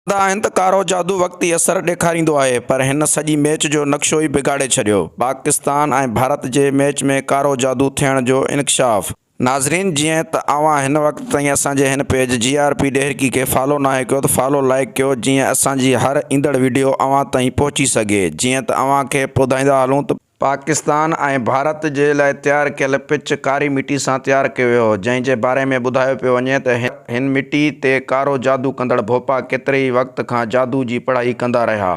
چوندا آهن ته ڪارو جادو وقتي اثر ڏيکاريندو آهي پر هن سڄي ميچ جو نقشو ئي بگاڙي ڇڏيو، پاڪستان ۽ ڀارت جي ميچ ۾ ڪارو جادو ٿيڻ جو انڪشاف. ناظرين جيئن ته اوهان هن وقت تائين اسان جي هن پيج جي آر پي ڏهرڪي کي فالو ناهي ڪيو ته فالو لائيڪ ڪيو جيئن اسان جي هر ايندڙ ويڊيو اوهان تائين پهچي سگهي جيئن ته اوهان کي ٻڌائيندا هلون ته پاڪستان ۽ ڀارت جي لاء تيار ڪيل پچ ڪاري مٽي سان تيار ڪيو ويو هو، جنهن جي باري ۾ ٻڌايو پيو وڃي ته هن مٽي تي ڪارو جادو ڪندڙ ڀوپا ڪيتري ئي وقت کان جادو جي پڙهائي ڪندا رهيا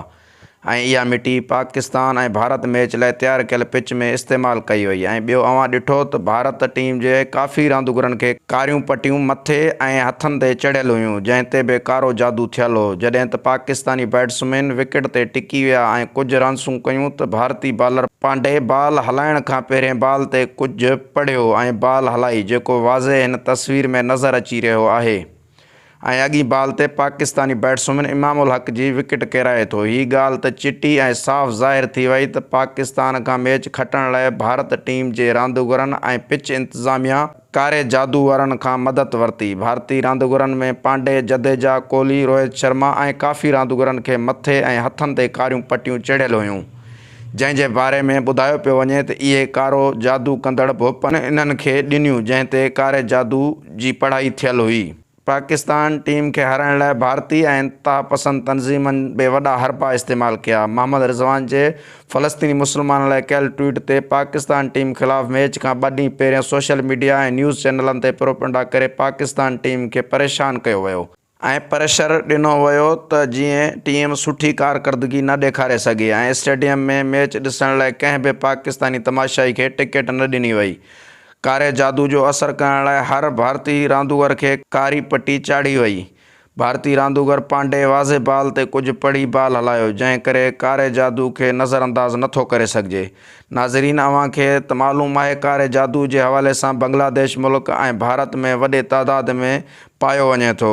۽ اها مٽي پاڪستان ۽ ڀارت ميچ لاء تيار ڪيل پچ ۾ استعمال ڪئي وئي ۽ ٻيو اوهان ڏٺو ته ڀارت ٽيم جي ڪافي رانديگرن کي ڪاريون پٽيون مٿي ۽ هٿن تي چڙهيل هيون، جنهن تي به ڪارو جادو ٿيل هو، جڏهن ته پاڪستاني بيٽسمين وڪيٽ تي ٽڪي ويا ۽ ڪجهه رنسون ڪيون ته ڀارتي بالر پانڊي بال هلائڻ کان پهرين بال تي ڪجهه پڙهيو ۽ بال هلائي، جيڪو واضح هن تصوير ۾ نظر اچي رهيو آهي. ۽ اڳئين بال تي پاڪستاني بيٽسمين امام الحق جي وڪيٽ ڪيرائي ٿو. هي ڳالهه ته چٽي ۽ صاف ظاهر ٿي وئي ته پاڪستان کان ميچ کٽڻ لاء ڀارت ٽيم جي رانديگرن ۽ پچ انتظاميا ڪاري جادو وارن کان مدد ورتي. ڀارتي رانديگرن ۾ پانڊي، جديجا، ڪولي، روهت شرما ۽ ڪافي رانديگرن کي مٿي ۽ هٿن تي ڪاريون پٽيون چڙهيل هيون. جنهن جي باري ۾ ٻڌايو پيو وڃي ته اهي ڪارو جادو ڪندڙ ڀوپن انهن کي ڏنيون جنهن تي ڪاري جادو جي پڙهائي ٿيل هئي. پاڪستان ٽيم کي هارائڻ لاء ڀارتي ۽ انتهاپسند تنظيمن به وڏا حربا استعمال ڪيا، محمد رضوان جي فلسطيني مسلمانن لاء ڪيل ٽوئيٽ تي پاڪستان ٽيم خلاف ميچ کان ٻه ڏينهن پهريان سوشل ميڊيا ۽ نيوز چينلن تي پروپنڊا ڪري پاڪستان ٽيم کي پريشان ڪيو ويو، ۽ پريشر ڏنو ويو ته جيئن ٽيم سٺي ڪارڪردگي نه ڏيکاري سگهي ۽ اسٽيڊيم ۾ ميچ ڏسڻ لاء ڪنهن به پاڪستاني تماشائي کي ٽڪيٽ نه ڏني وئي. ڪاري جادو جو اثر ڪرڻ لاء هر ڀارتي راندوگر کي ڪاري پٽي چاڙهي وئي. ڀارتي راندوگر پانڊي واضح بال تي ڪجهه پڙهي بال هلايو جنهن ڪري ڪاري جادو کي نظر انداز نه ٿو ڪري سگهجي. ناظرين اوهان کي ته معلوم آهي ڪاري جادو جي حوالي سان بنگلاديش ملڪ ۽ ڀارت ۾ وڏي تعداد ۾ پايو وڃي ٿو.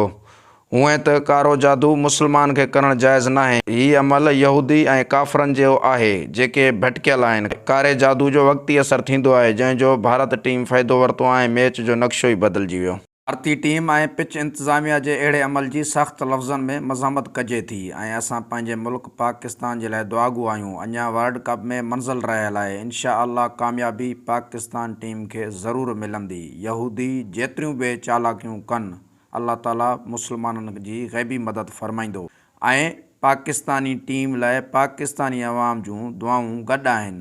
هونئن ته ڪارو جادو مسلمان کي ڪرڻ جائز ناهي. هي عمل يهودي ۽ ڪافرن جهڙو آهي، جيڪي ڀٽڪيل آهن. ڪاري جادو جو وقتي اثر ٿيندو آهي، جنهن جو ڀارت ٽيم فائدو ورتو ۽ ميچ جو نقشو ئي بدلجي ويو. ڀارتي ٽيم ۽ پچ انتظاميا جي اهڙي عمل جي سخت لفظن ۾ مذمت ڪجي ٿي ۽ اسان پنهنجي ملڪ، پاڪستان جي لاء دعاگو آهيون اڃان ورلڊ ڪپ ۾ منزل رهيل آهي انشاء الله ڪاميابي پاڪستان ٽيم کي ضرور ملندي يهودي جيتريون به چالاڪيون ڪن الله تعالي مسلمانن جي غيبي مدد فرمائيندو ۽ پاڪستاني ٽيم لاء پاڪستاني عوام جون دعائون گڏ آهن